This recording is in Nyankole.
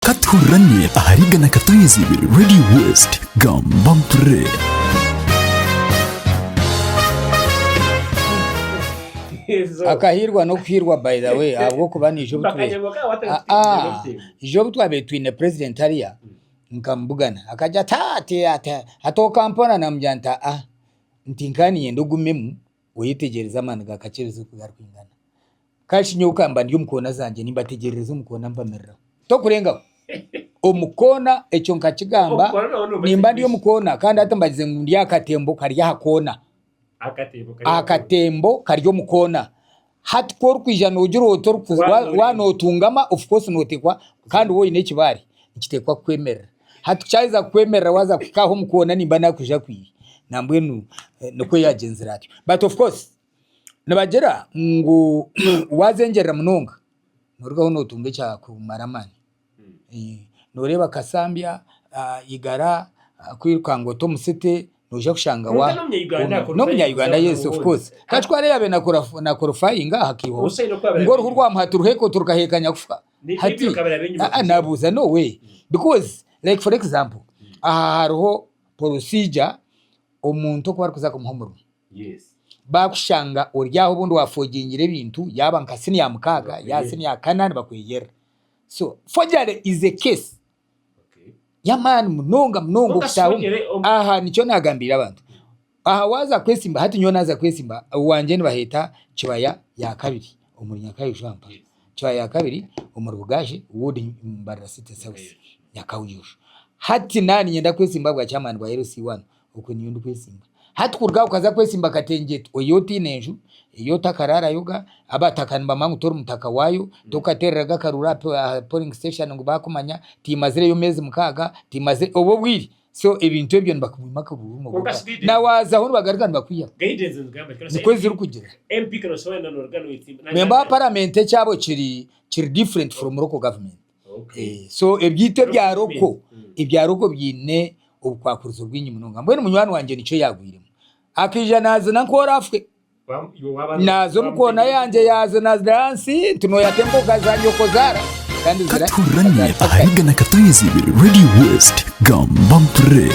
Ka tuhurirane ahari igana Katonyezi ibiri Radio West. Gamba mpurire. akahirwa n'okuhirwa by the way ahabw'okuba niija obu tube aa ija obu twabaire twine president hariya nkamubugana akagira ati aa ati ati ati okampora namugira nti aa nti nkaba niinyenda ogumemu oyetegyereze amaani ga kakyereezi oku garikwingana. Kandi shi nyowe ka mba ndi omu koona zangye, nimbategyerereza omu koona mpamiriraho. Tokurengaho. Omu koona, ekyo nkakigamba, nimba ndi omu koona, kandi hati mbagize ngu ndi aha katembo kari aha koona. Aha katembo kari omu koona. Hati ku orikwija noogira oti oriku, wa, wa nootungama, of course nooteekwa, kandi woine ekibaare, nikiteekwa kukwemerera. Hati ku kyaheza kukwemerera waaza kuhika aho omu koona nimba naakwija kwiihi. Nambwenu nikwo yaagyenzire atyo. But of course. Nibagira ngu waazengyerera munonga norugaho notunga ekyakumara amaani. Noreeba kasambya, igara, kwirukanga ote omusete noija kushanga wa. N'omunya Uganda yes of course. Hati ku araabe na korifaayinga aha kaiho ngu oruhu rwa muha tiruheeka otu rukaheeka nyakufa. Hati aa nabuuza no way because like for example aha hariho procedure omuntu oku barikuza kumuha omurimo. Baakushanga ori aho obundi waafojingire ebintu yaaba nka siniya mukaaga yaaba siniya kanaani bakweyerera. So forgery is a case y'amaani munonga munonga okutaaha omu. Aha nikyo naagambiire abantu. Aha waaza kwesimba hati nyowe naaza kwesimba owangye nibaheeta Kibaya ya kabiri omuri Nyakabwe Kampala. Kibaya ya kabiri omuri Bugashi wood Mbarara city south Nyakabwe. Hati naaba niinyenda kwesimba ahabwa chairman wa LC1. Okwe niyo ndikwesimba. Hati kuruga aho okaza kwesimba Katengyetu oyo otaine nju, eyi otakaraarayo ga, abataka nibamanya ngu tori mutaka waayo, tokateereraga akaruuru aha polling station ngu baakumanya, tiimazireyo meezi mukaaga, tiimazire, obwo obwire so ebintu ebyo nibakubima akaruuru noboga na waazaho nibagaruka nibakwihaho. Nikwo zirikugira. Memba wa paramenti ekyabo kiri kiri different from local government. So ebyitwa ebya roko, ebya roko byine obukwakurizo bwingi munonga. Mbwenu munywani wangye nikyo yagwiremu. Akaija nazina nk'orafwe. Naza omu koona yangye yaza nazina ahansi nti noyata emboga za nyoko zara kandi zira. Katuhurane ahari Gana Katonyezi Ibiri Radio West. Gamba mpurire.